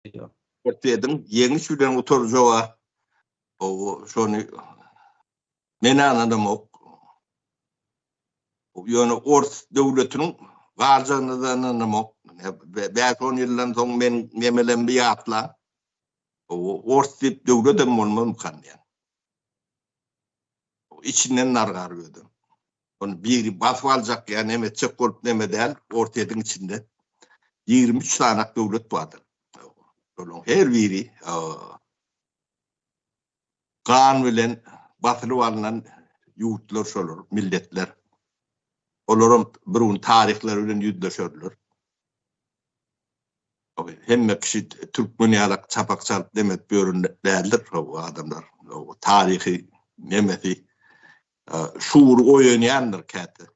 Ertediň ýeňiş bilen gutarjaga o şony men ananamok. Ýöne ors döwletiniň barjagyna da ananamok. Bäş on ýyldan soň men nemelemdi ýatla. Ors diýip döwlet hem bolmamkan diýen. Içinden nargar özüm. Ony biri basyp aljak ýa neme etjek bolup neme däl, orta ediň içinde ýigrimi üç sanak döwlet bardyr. Olaryň her biri gan bilen basylyp alnan ýurtlar şolar, milletler. Olaram bir gün taryhlary bilen ýüzleşerler. Hemme kişi türkmen ýalak çapak çalyp neme edip ýören däldir bu adamlar. Taryhy nemesi Şuur oýanýandyr käte.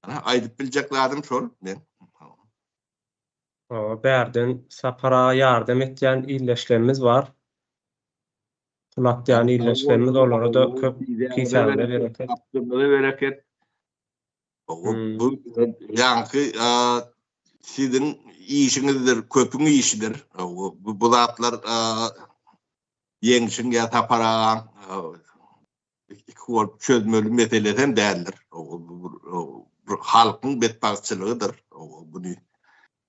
Ana, aýdyp biljek zadym şol men. Hawa, bärden Sapar aga ýardam etýän ildeşlerimiz bar. Pul atýan ildeşlerimiz olara-da köp kisagine bereket. Tapdygyňyza bereket. Bu ýaňky siziň işiňizdir, köpüň işidir. Bu zatlar Ýeňşiň ýa Sapar agaň iki bolup çözmeli meselesi hem däldir. Bir halkyň betbagtçylygydyr. Buny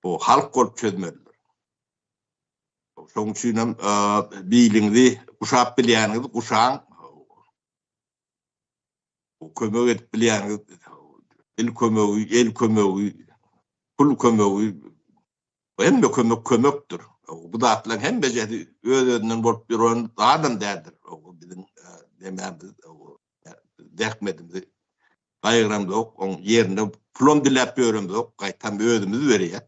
bu halk bolup çözmelidir. Şoň üçin hem biliňizi guşap bilýäniňizi guşaň. Bu kömek edip bilýäniz dil kömegi, el kömegi, pul kömegi, hemme kömek kömekdir. Bu zatlaryň hemmejesi öz-özünden bolup ýören zadam däldir. Biziň nemämiz, zähmetimizi gaýgyramzok, oň ýerine pulam diläp ýöremzok, gaýtam özümiz berýäs.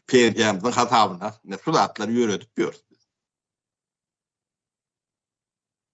Pensiýamyzyň hasabyna şu zatlary ýöredip ýörüs.